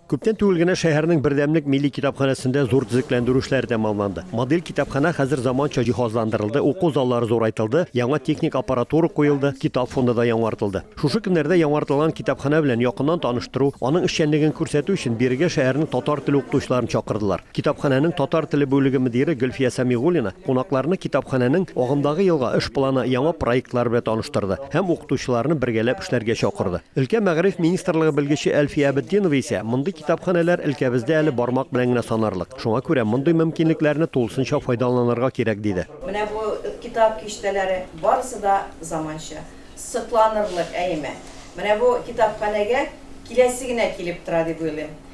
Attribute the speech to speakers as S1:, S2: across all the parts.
S1: Күптән түгел генә шәһәрнең бердәмлек милли китапханәсендә зур төзекләндерү эшләре тәмамланды. Модель китапханә хәзер заманча җиһазландырылды, уку заллары зурайтылды, яңа техник аппаратура куелды, китап фонды да яңартылды. Шушы көннәрдә яңартылган китапханә белән якыннан таныштыру, аның эшчәнлеген күрсәтү өчен бирегә шәһәрнең татар теле укытучыларын чакырдылар. Китапханәнең татар теле бүлеге мөдире Гөлфия Сәмигуллина кунакларны китапханәнең агымдагы елга эш планы, яңа проектлары белән таныштырды һәм укытучыларны бергәләп эшләргә чакырды. Өлкә мәгариф министрлыгы белгече Әлфия Әбетдинова исә, Мондый китапханәләр өлкәбездә әле бармак белән генә санарлык. Шуңа күрә мондый мөмкинлекләрне тулысынча файдаланырга кирәк, диде. Менә бу китап
S2: киштәләре барысы да заманча, сокланырлык әйме. Менә бу китапханәгә киләсе генә килеп тора дип уйлыйм.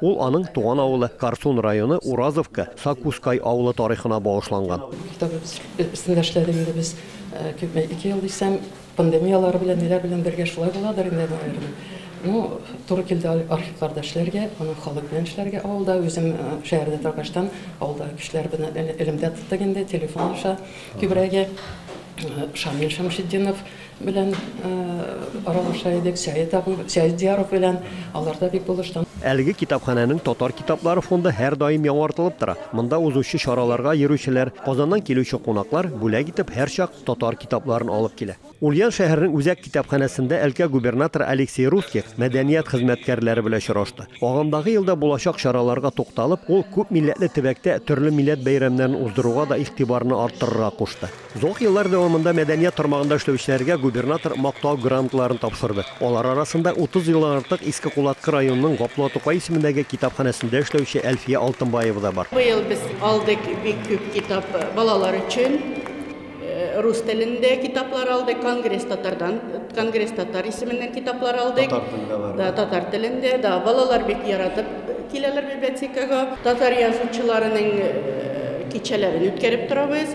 S1: Ул аның туган авылы, Корсун районы Уразовка, Сакускай авылы тарихына багышланган. Китабыбыз
S3: өстендә эшләдек инде без, күпме, ике ел дисәм, пандемияләре белән, ниләр белән бергә шулай буладыр инде, наверное. Ну, туры килде архивларда эшләргә, аның халык белән эшләргә авылда. Үзем шәһәрдә торгаштан, авылдагы кешеләр белән элемтә тоттык инде, телефон аша күбрәге. Шамил Шәмшетдинов, Белән аралаша идек, Сәет абый, Сәет Дияров белән, алар да бик булышты. Әлеге китапханәнең
S1: татар китаплары фонды һәрдаим яңартылып тора. Монда узучы чараларга йөрүчеләр, Казаннан килүче кунаклар бүләк итеп һәрчак татар китапларын алып килә. Ульян шәһәренең үзәк китапханәсендә өлкә губернаторы Алексей Русских мәдәният хезмәткәрләре белән очрашты. Агымдагы елда булачак чараларга тукталып, ул күп милләтле төбәктә төрле милләт бәйрәмнәрен уздыруга да игътибарны арттырырга кушты. Озак еллар дәвамында мәдәният тармагында эшләүчеләргә губернатор Мактау грантларын тапшырды. Алар арасында 30 елдан артык Иске Кулаткы районының Гаплуа Тукай исемендәге китапханәсендә эшләүче Әлфия Алтынбаева да бар. Быел без алдык
S4: бик күп китап, балалар өчен рус телендә китаплар алдык, Конгресс татардан, Конгресс татар исеменнән китаплар алдык. Татар телендә бар. Да, татар телендә, да. Балалар бик яратып киләләр библиотекага. Татар язучыларының кичәләрен үткәреп торабыз.